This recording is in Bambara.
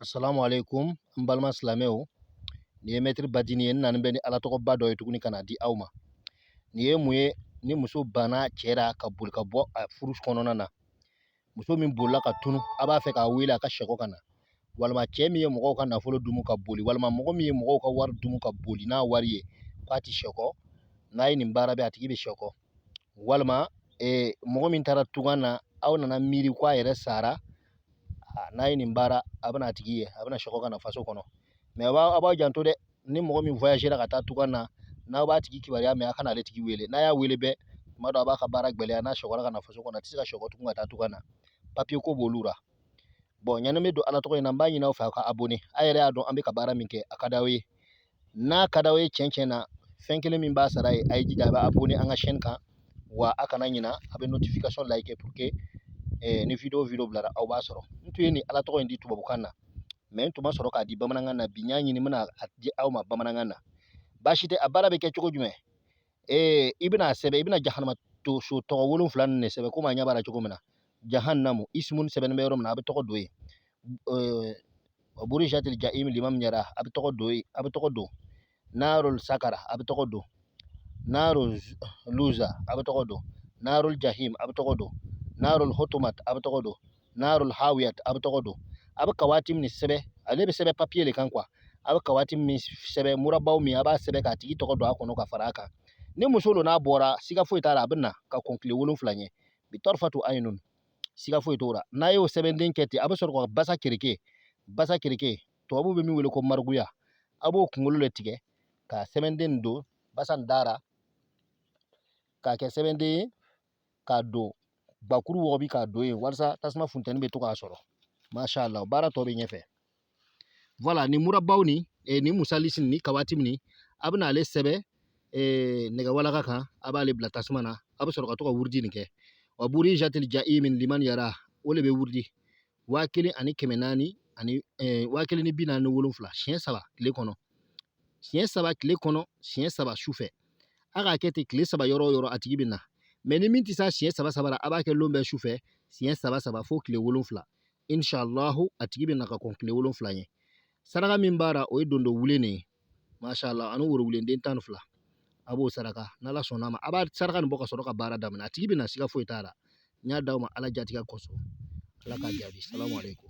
Assalamu alaikum n balima silamɛw nin ye mɛtiri badini ye n nani bɛ ni ala tɔgɔba dɔ ye tuguni ka na di aw ma nin ye mun ye ni muso banna cɛ la ka boli ka bɔ a furu kɔnɔna na muso min bolila ka tunu a b'a fɛ k'a wele a ka sɛgɔ ka na walima cɛ min ye mɔgɔw ka nafolo dumu ka boli walima mɔgɔ min ye mɔgɔw ka wari dumu ka boli n'a wari ye k'a tɛ sɛgɔ n'a ye nin baara kɛ a tigi bɛ sɛgɔ walima mɔgɔ min taara tunga na aw nana miiri ko a yɛrɛ sara n'a ye nin baara a bɛna a tigi ye a bɛna sɛgɔ ka na faso kɔnɔ mais aw b'a aw b'a janto dɛ ni mɔgɔ min voyagera ka taa tunga na n'aw b'a tigi kibaruya mɛn a kana ale tigi wele n'a y'a wele bɛɛ tuma dɔ a b'a ka baara gɛlɛya n'a sɛgɔra ka na faso kɔnɔ a tɛ se ka sɛgɔ tugun ka taa tunga na papiye ko b'olu la bon yani an bɛ don ala tɔgɔ in na n b'a ɲini aw fɛ aw ka abonné a yɛrɛ y'a dɔn an bɛ ka baara min kɛ a ka d'aw ye n'a ka d'aw ye cɛn cɛn na fɛn kelen min b'a sara ye a y'i jija a bɛ abonné an ka chaîne kan wa a kana ɲina a bɛ notification like pour que eh, ni video video bilara aw b'a sɔrɔ n tun ye nin ala tɔgɔ in di tubabukan na mais n tun ma sɔrɔ k'a di bamanankan na bi n y'a ɲini n bɛna a di aw ma bamanankan na baasi tɛ a baara bɛ kɛ cogo jumɛn ee i bɛna sɛbɛn i bɛna jahanama tɔgɔ wolonfila nin de sɛbɛn komi aw ɲɛ b'a la cogo min na jahanamu ismun sɛbɛnnen bɛ yɔrɔ min na a bɛ tɔgɔ don yen burijatil jahimu liman yara a bɛ tɔgɔ don yen a bɛ tɔgɔ don narol sakara a bɛ tɔgɔ don narol luza a bɛ tɔgɔ don narol jahim a bɛ tɔgɔ don narol hotomat a bɛ tɔgɔ don narul hawiyat a bɛ tɔgɔ don a bɛ kawatimi nin sɛbɛn ale bɛ sɛbɛn papiye de kan quoi a bɛ kawatimi nin sɛbɛn muraba nin a b'a sɛbɛn k'a tigi tɔgɔ don a kɔnɔ ka fara a kan ni muso don n'a bɔra siga foyi t'a la a bɛ na ka kɔn tile wolonfila ɲɛ bi tɔrifatu ayinun siga foyi t'o la n'a y'o sɛbɛnden kɛ ten a bɛ sɔrɔ ka basa kereke basa kereke tubabu bɛ min wele ko margouillat a b'o kunkolo de tigɛ ka sɛbɛnden nin don basa nin da ra k'a kɛ sɛbɛnden ye k'a don gbakuru wɔgɔbɛ k'a don yen walasa tasuma funtɛni bɛ to k'a sɔrɔ masha Allah baara tɔ bɛ ɲɛfɛ voilà nin muraba nin eh, nin musalisi nin kawatimi nin a bɛna ale sɛbɛn eh, nɛgɛwalaka kan a b'ale bila tasuma na a bɛ sɔrɔ ka to ka wurudi nin kɛ wa burijatil jahimu liman yara o de bɛ wurudi waa kelen ani kɛmɛ naani ani eh, waa kelen ni bi naani ni wolonfila siɲɛ saba tile kɔnɔ siɲɛ saba tile kɔnɔ siɲɛ saba su fɛ a k'a kɛ ten tile saba yɔrɔ o yɔrɔ a tigi bɛ na mais ni min tɛ se siɲɛ saba saba ra a b'a kɛ lon bɛɛ su fɛ siɲɛ saba saba fo tile wolonfila inshalahu a tigi bɛ na ka kɔn tile wolonfila ɲɛ saraka min b'a la o ye dondo wulennin ye masha allah ani worowulen den tan ni fila a b'o saraka n'ala sɔnna a ma a b'a saraka nin bɔ ka sɔrɔ ka baara daminɛ a tigi bɛ na siga foyi t'a la n y'a d'aw ma ala jatigɛ kosɔn ala k'a jaabi salamu aleykum